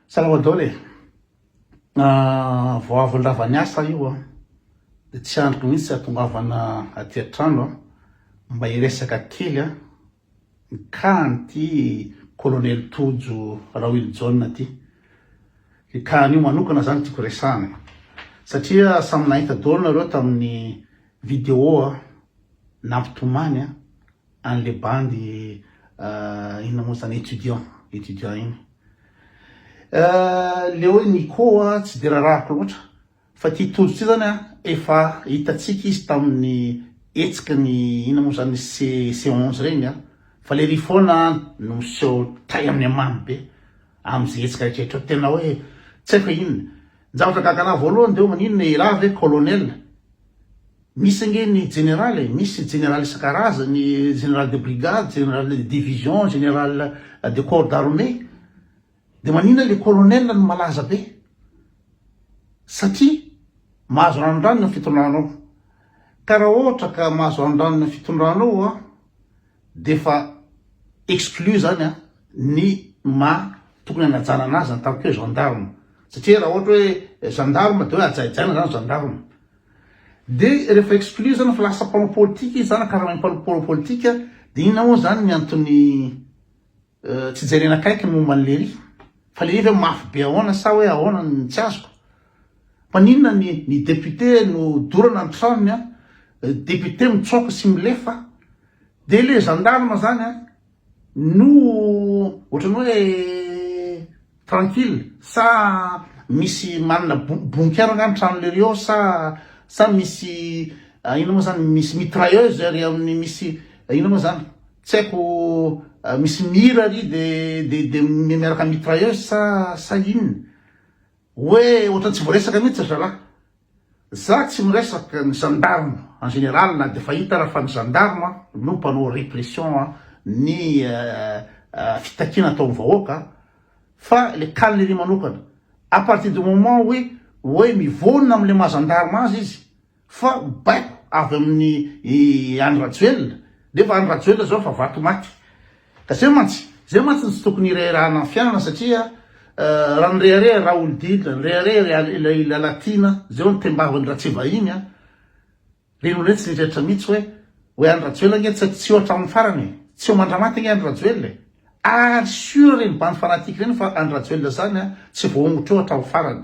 Salvador e! Vao avy lava ny asa io an! Dia tsy andriko mihitsy hatongavana aty an-trano an! Mba hiresaka kely an! Nikaha an'ity Kolonely Tojo Rahoelijaona ity. Ny kahan'io manokana izany tiako resahana e! Satria samy nahita daholo nareo tamin'ny video nampitomany an! Any le bandy inona moa zany étudiant étudiant iny le hoe Nico tsy de rarahako loatra fa ty Tojo ty zany efa hitatsika izy tamin'ny hetsiky ny inona moa zany CEC 11 regny fa le ry foana no miseho tay amin'ny hamamy be am'ze hetsika rehetra hoe tena hoe tsy haiko inona ny zavatra gaga anahy voalohany de hoe maninona elah ve colonel Misy ange ny jeneraly e, misy jeneraly isan-karazany, jeneraly de brigade, jeneraly de division, jeneraly de corps d'armée, dia maninona le colonel no malaza be? satria mahazo ranondranony ny fitondranao, ka raha ohatra ka mahazo ranondranony ny fitondranao an, dia efa exclu zany an ny maha tokony hanajana anazy en tant que gendarme, satria raha ohatra hoe gendarme dia hoe hajaijaina zany gendarme. Dia rehefa exclure zany fa lasa mpanao politika izy zany karama mpanao politika dia inona moa zany ny antony tsy jerena akaiky ny momba ny lery fa lery ve mafy be ahoana sa hoe ahoana ny tsy azoko maninona ny ny député no dorana ny tranony a député mitsoaka sy milefa dia le gendarme zany a No ohatrany hoe tranquille sa misy manana bonkera nga ny tranonle ry ao sa sa misy ah, inona moa zany misy mitrailleuse ary amin'ny misy ah, inona moa zany tsy haiko ah, misy mira ry de de de miaraka mitrailleuse sa sa inona Oe ohatran tsy voaresaka mihitsy ry zalahy. Za tsy miresaka ny gendarme en général na dia efa hita ara fa ny gendarme no mpanao répression ny fitakiana ataon'ny vahoaka fa le cas n'iry manokana à partir du moment oe oe mivônona amle maha gendarme azy izy Fa baiko avy amin'ny i Andry Rajoelina, nefa Andry Rajoelina zao efa vaky maty. Ka zay mantsy, zay mantsy no tsy tokony hirehirahana ny fiainana satria raha nirehareha Raholdina, nirehareha ilay Lalatiana, zay hono tembavany Ratsiva iny an! Reny hono tsy nirehetra mihitsy hoe, hoe Andry Rajoelina ange tsy tsy eo hatramin'ny farany e! Tsy eo mandra-maty ange Andry Rajoelina e! Ary sûr reny bandy fanatique reny fa Andry Rajoelina zany an, tsy voahongotra eo hatramin'ny farany.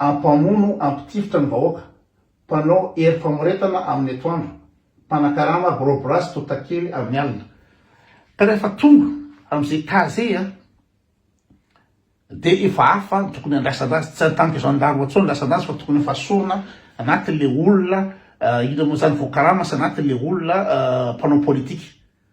Mpamono hampitifitra ny vahoaka, mpanao hery famoretana amin'ny atoandro, mpanakarama brobra sy totakely amin'ny alina. Ka rehefa tonga amin'izay cas izay an, dia efa hafa ny tokony handraisana azy, tsy an-tanky gendarme intsony ny handraisana azy fa tokony efa sorona anatin'ilay olona, inona moa izany, voakarama sy anatin'ilay olona mpanao politika.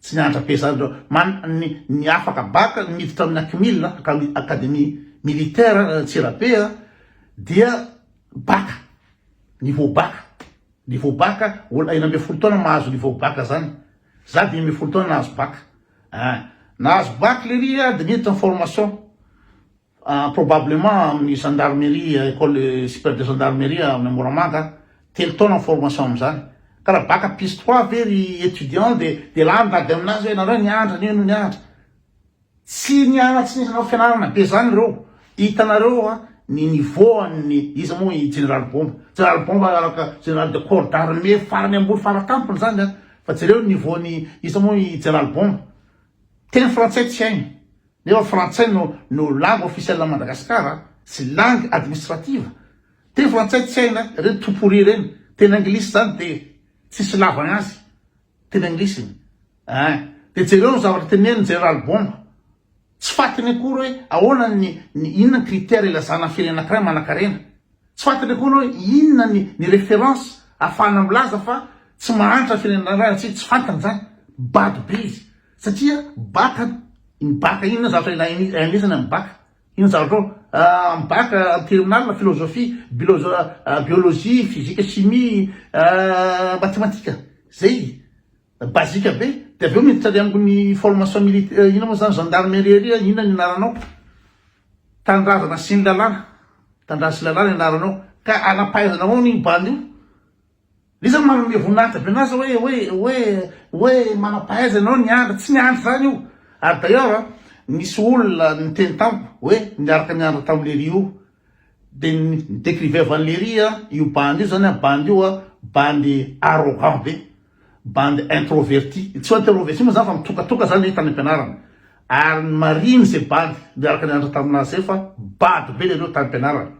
Tsy nianatra be zany reo. Man ny ny afaka bac niditra amin'ny Acmil, Academie Academie Militaire Antsirabe a, dia bac, niveau bac, niveau bac, olona enina ambin'ny folo taona mahazo niveau bac zany. Za dimy ambin'ny folo taona nahazo bac. An! Nahazo bac lery a dia niditra ny formation. Probablement amin'ny gendarmerie, école supérieure de gendarmerie any Moramanga, telo taona ny formation amin'izany. Ka raha baka piste trois ve ry étudiant dia dia lany dady aminazy hoe nareo niandry anio no niandry. Tsy niana tsy nisy nanao fianarana be zany ireo. Hitanareo a ny niveau an'ny iza moa i Jeneraly Bomba. Jeneraly Bomba araka Jeneraly de corps d'armée farany ambony fara tampony zany a. Fa jereo ny niveau-n'i iza moa i Jeneraly Bomba. Teny frantsay tsy hainy. Nefa frantsay no no langue officielle an'i Madagascar a! Tsy langue administrative! Teny frantsay tsy haina ireny tout pourri ireny! Teny anglisy zany de tsisy ilavagna azy! Teny anglisy iny ein! De jereo ny zavatra tenenin'i Jeneraly Bomba! Tsy fatiny akory hoe ahoana ny ny inona ny critère ilazana ny firenena anankiray manankarena! Tsy fatiny akory hoe inona ny ny référence ahafahana milaza fa tsy mahantra ny firenena iray raha tsy tsy fantany zany! Bado be izy! Satria bac an, iny bac inona zavatra ilain'ny ahianesana amin'ny bac? Inona zavatra ao amin'ny bac en terminale, philosophie, bilosophie, biologie, physique, chimie, matematika, zay basique be, de avy eo miditra any amin'ny formation militaire, inona moa zany, gendarmerie, inona ny anaranao, tanindrazana sy ny lalàna, tanindrazana sy lalàna ny anaranao, ka anapahaizana ahoana io bandy io? Iza no manome voninahitra be an'azy hoe, hoe, hoe, hoe manam-pahaiza ianao niandry, tsy niandry izany io. Ary d'ailleurs a, nisy olona niteny tamiko hoe niaraka niandry tamin'i Léry io, dia ni-décriveva an'i Léry a, io bandy io izany a, bandy io a, bandy arrogant be, bandy introverti, tsy hoe interroverti moa izany fa mitokatoka izany le tany am-pianarana. Ary ny marigny izay bandy niaraka niandry tamin'azy izay fa bado be lereo tany am-pianarana,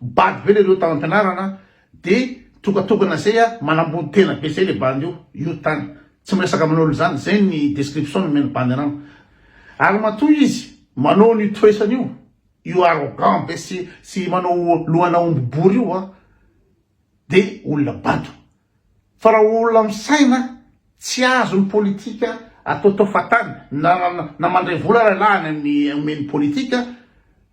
bado be lereo tany am-pianarana, De tokatokana zay a, manambony tena be zay le bandy io, io tany tsy miresaka amin olo zany, zay ny description nomen bandy anam, ary matoa izy manao an io toesany io, io arrogant be sy sy manao lohana omby bory io a, de olona bado, fa ra olona misaina tsy azo ny politika ataotao fatany, na na mandray vola ra lahany aminy omeny politika,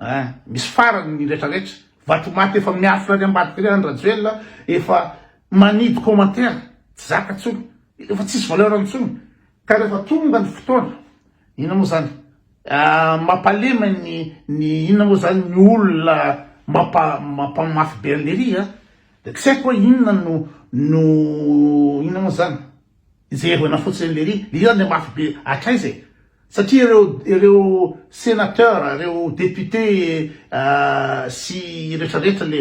Eh misy farany ny retraretra. Vatomaty efa miafina any ambadika any Rajoelina efa manidy commentaire tsy zaka tsony efa tsisy valeur ntsony ka refa tonga ny fotoana inona moa zany mapalema ny ny inona moa zany ny olona mapa mapamafy be an lery a de tsy haiko hoe inona no no inona moa zany Jerena fotsiny lery hira le mafy be hatraiza e! Satria ireo ireo senateur, ireo député sy retraretra le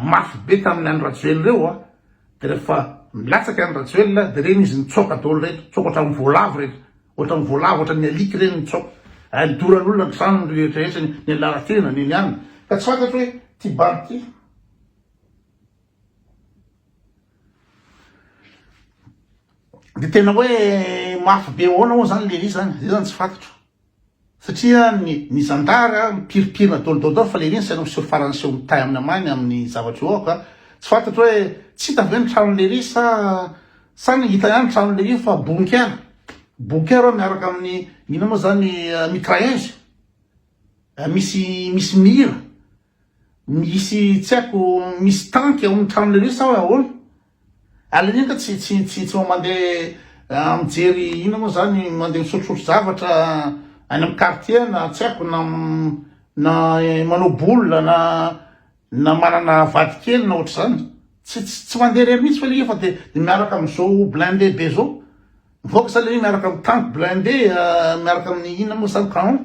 mafy be tamin'ny an'i Rajoelina ireo a! de rehefa milatsaka an'i Rajoelina de reny izy nitsoaka daholo reto, nitsoaka ohatran'ny voalavo reto, ohatran'ny voalavo, ohatran'ny alika ireny nitsoaka, ary nidoran'olona ny tranony ry retraretra, ny an'i Lalatiana, ny an'i anona, ka tsy fantatro hoe ty bandy ty. De tena hoe mafy be ahoana moa zany le izy zany, zay zany tsy fantatro. Satria ny ny zandary mipirimpirina daholo daholo fa le izy tsy hainao miseho farany seho mitay aminy amany amin'ny zavatra eo ka tsy fantatro hoe tsy hita ve ny tranon'i Leiry sa sa ny hita ihany ny tranon'i Leiry fa bunker, bunker hoe miaraka amin'ny inona moa zany mitrailleuses misy misy mira Misy tsy haiko misy tanky ao amin'ny tranonareo sa ahoana? Aleo indrindra tsy tsy tsy tsy mandeha mijery inona moa izany mandeha misotrosotro zavatra any amin'ny quartier na tsy haiko na na manao boule na na manana vadikely na ohatr'izany tsy tsy tsy mandeha irery mihitsy fa aleo fa dia dia miaraka amin'izao blindé be izao mivoaka sa aleo miaraka amin'ny tanky blindé miaraka amin'ny inona moa izany canon.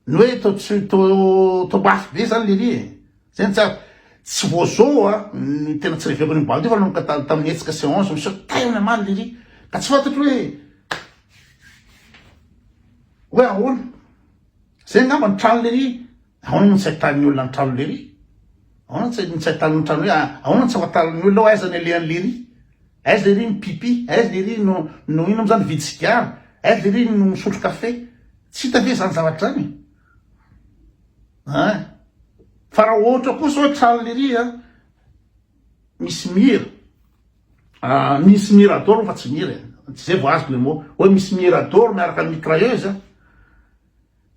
Ny hoe to tsy to to mafy be zany lery e. Zay no tsy azoko. Tsy vao zao a ny tena tsy reveko an'io bandy io fa nanomboka ta- tamin'ny hetsika ce 11 mi saute tena omaly lery ka tsy fantatro hoe hoe ahoana. Zay angamba ny trano lery. Ahoana moa no tsy ahitan'ny olona ny trano lery? Ahoana no tsy no tsy ahitan'ny trano hoe a- ahoana no tsy fantarin'ny olona hoe aiza ny alehan'i lery? Aiza lery ny pipi? Aiza lery no no inona moa zany nividy sigara? Aiza lery no misotro kafe? Tsy hita ve zany zavatra zany eh? Fa raha ohatra kosa hoe tranon'i Lery a, misy mira, ah, misy mirador fa tsy mira e, tsy zay vao azoko le mot, hoe misy mirador miaraka amin'ny mitrailleuse a,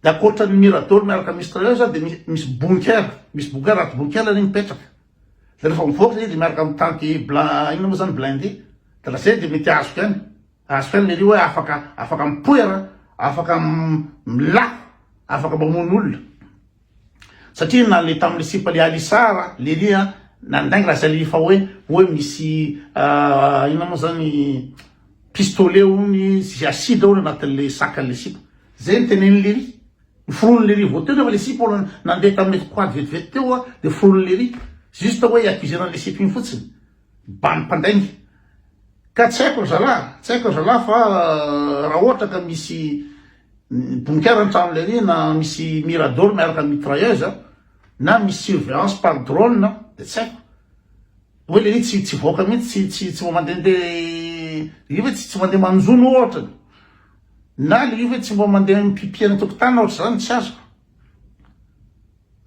de ankoatran'ny mirador miaraka amin'ny mitrailleuse a, de misy bunker, misy bunker, aty bunker le mipetraka, de rehefa mivoaka zay de miaraka amin'ny tanky bla, inona moa zany, blindé, de lasa eo de mety azoko ihany. Azo fenina ery hoe afaka afaka mipoera, afaka milafo, afaka mamono olona. Satria na le tamin'ny sipa le alisar lery a nandainga raha zay le efa hoe hoe misy ah, inona moa zany pistolet hono sy acide hono anatin'le sakan'le sipa. Zay ny tenenin'i lery. Ny foronon'i lery vao teo nefa le sipa hono nandeha tamin'ilay quad vetivety teo a dia foronon'i lery. Juste hoe i accusé-na an'le sipa iny fotsiny. Ba ny mpandainga. Ka tsy haiko ry zalahy, tsy haiko ry zalahy fa raha ohatra ka misy bonikera ny trano lery na misy mirador miaraka amin'ny mitrailleuse na misy surveillance par drone dia tsy haiko. Hoe lery tsy tsy voaka mihitsy, tsy tsy mandehandeha lery hoe tsy tsy mandeha manjono ohatra. Na lery hoe tsy mba mandeha mipipy any an-tokotany na ohatr'izany, tsy azoko.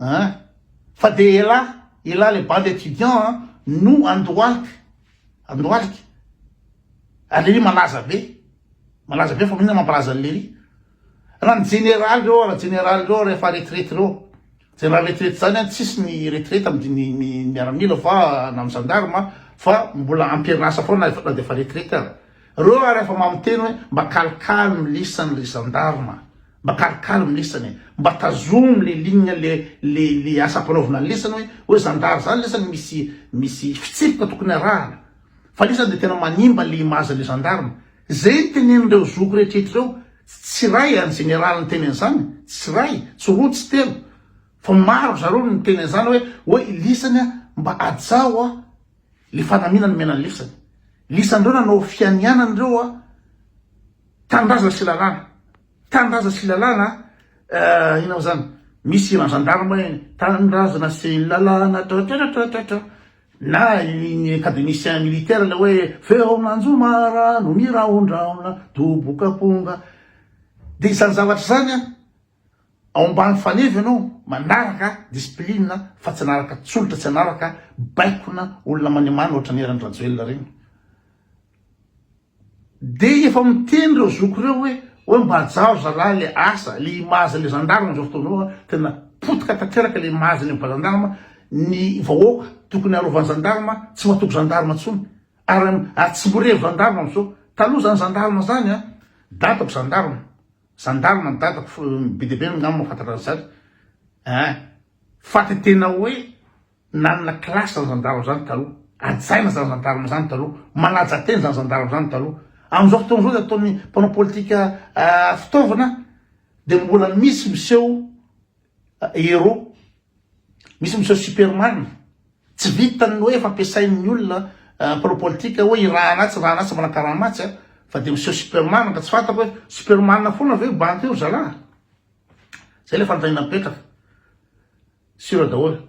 Hein? Fa dia elah, elah le bande étudiant an, no andohalika, andohalika. Ary lery malaza be, malaza be fa maninona mampalaza an'i lery. Raha ny jeneraly reo, raha jeneraly reo rehefa retraite reo, jeneraly retraite zany an, tsisy ny retraite amin'ny miaramila fa na amin'ny gendarme fa mbola ampirinasa foana na dia efa retraite aza. Reo ary efa mamiteny hoe mba kalikaly milisany ry zandarma mba kalikaly milisany e mba tazomy le ligne le le le asa ampanaovina ny lisany hoe hoe zandary zany lisany misy misy fitsipika tokony arahana fa lisany de tena manimba le image le zandarma zay ny tenenin'ireo zoky rehetrehtra ireo tsy ray any jeneraly niteny an'izany tsy ray tsy roa tsy telo fa maro zareo no niteny an'izany hoe hoe lisany a mba ajao a Le fanamiana nomena ny lisany. Lisan'ireo nanao fianianana ireo a. Tanindrazana sy lalàna. Tanindrazana sy lalàna eh, inona moa zany? Misy hiran'ny gendarme iny. Tanindrazana sy lalàna tratratratratra. Na ny académicien militaire le hoe feon'anjomara no miraondraona doboka amponga. Dia izany zavatra izany a. ao ambany faneva ianao manaraka discipline fa tsy anaraka tsolotra tsy anaraka baikona olona manimana ohatra ny eran'ny rajoelina ireny dia efa miteny ireo zoko ireo hoe hoe mba ajaho zalahy le asa le image le gendarme zao fotoana io tena potika tanteraka le image ny gendarme ny vahoaka tokony arovan'ny gendarme tsy matoky gendarme tsony ary tsy mirevy gendarme amizao taloha zany gendarme zany a datako gendarme Gendarme ny dadako be dia be angamba mahafantatra an'i zany eh, fa de tena hoe nanana classe zany gendarme zany taloha, hajaina zany gendarme zany taloha, manaja tena zany gendarme zany taloha, amin'izao fotoana izao dia ataon'ny mpanao politika fitaovana dia mbola misy miseho Héros. Misy miseho Superman. Tsy vitan ny hoe fampiasain ny olona mpanao politika hoe i raha anatsy raha anatsy mbola karama atsy a. Fa dia miseho Superman ka tsy fantako hoe Superman foana ve io banky io ry zalahy. Zay ilay fanontaniana mipetraka. Sur daholo.